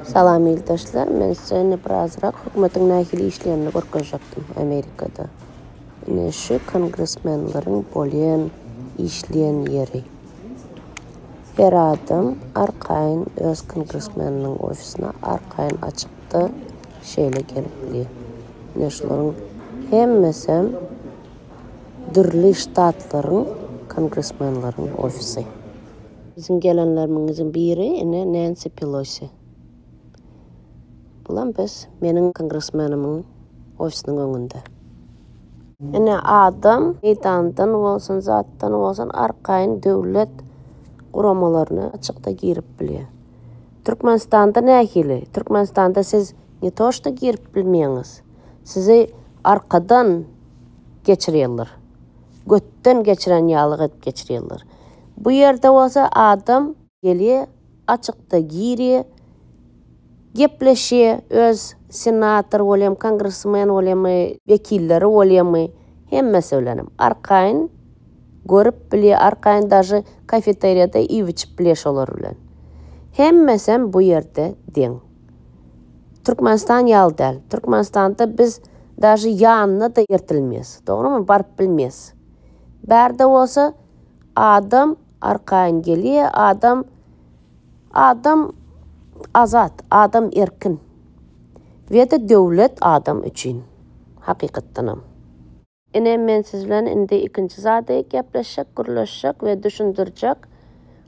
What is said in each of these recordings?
Salam ildaşlar, men size indi birazrak hökümetiň nähili işleýänini görkezjekdim Amerikada. Ine şu kongresmenleriň bolýan, işleýän ýeri. Her adam arkaýyn öz kongresmeniniň ofisini arkaýyn açyp wagtda şeýle gelipdi. Ine şularyň hemmesem dürli ştatlaryň kongresmenleriň ofisi. Biziň gelenlerimiňiziň biri ine Nancy Pelosi. Bulam biz meniň kongresmenimiň ofisiniň öňünde. Ine adam meýdandan bolsun zatdan bolsun arkaýyn döwlet guramalaryna açykda girip bilýär. Türkmenistanda nähili? Türkmenistanda siz ne to što girip bilmeýäňiz, sizi arkadan geçirýärler. Götden geçiren ýaly edip geçirýärler. Bu ýerde bolsa adam gelýär, açykda girýär, gepleşýär, öz senator bolýamy, kongresmen bolýamy, wekilleri bolýamy, hemmesi bilenem arkaýyn Görüp bilýä arkaýyn dažy kafeteriýada iýip-içip bilýä şolar bilen. Hemmesem bu ýerde deň. Türkmenistan ýaly däl. Türkmenistanda biz dažy ýanyna-da ertilmeýäs. Dogrymy? Baryp bilmeýäs. Bärde bolsa adam arkaýyn gelýä, adam adam azat, adam erkin. Weda döwlet adam üçin. Hakykatdanam. Ine, men siz bilen indi ikinji zady gepleşjek, gürleşjek we düşündirjek.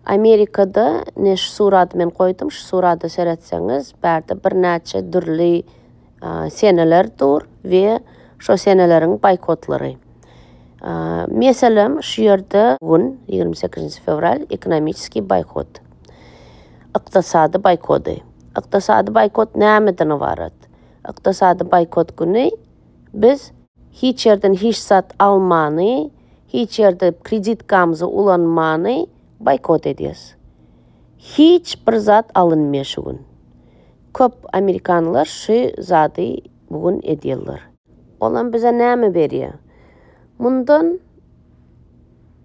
Amerikada, ine, şu surady men goýdum, şu surada seretseňiz, bärde birnäçe dürli seneler dur we şo seneleriň boýkotlary. Meselem, şu ýerde gün, ýigrimi sekizinji fewral, ekonomiskiý boýkot, ykdysady boýkody. Ykdysady boýkot nämeden ybarat? Ykdysady boýkot güni Biz hiç ýerden hiç zat almany, hiç ýerde kreditkamyzy ulanmany boýkot edýäs. Hiç bir zat alynmaýar şu gün. Köp amerikanlylar şu zady bu gün edýärler. Olam bize näme berýär? Mundan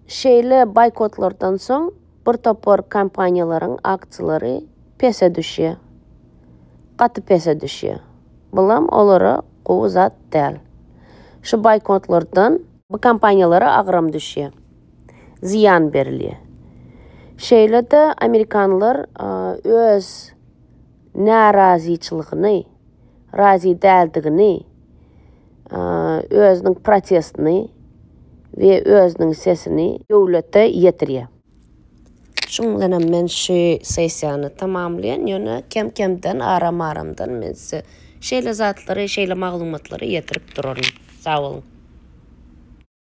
şeýle boýkotlardan soň bir topar kompaniýalaryň aksiýalary pese düşýär. Gaty pese düşýär. Bulam olara gowy zat däl. Şu boýkotlardan. Bu kompaniýalara agram düşýär. Zyýan berilýär. Şeýle-de amerikanlar öz närazyçylygyny. razy däldigini, özüniň protestini we özüniň sesini döwlete ýetirýär. Şunuň bilen hem men şu sessiýany tamamlaýan, ýöne kem-kemden, aram-aramdan men size şeýle zatlary, şeýle maglumatlary ýetirip duraryn. Sag boluň!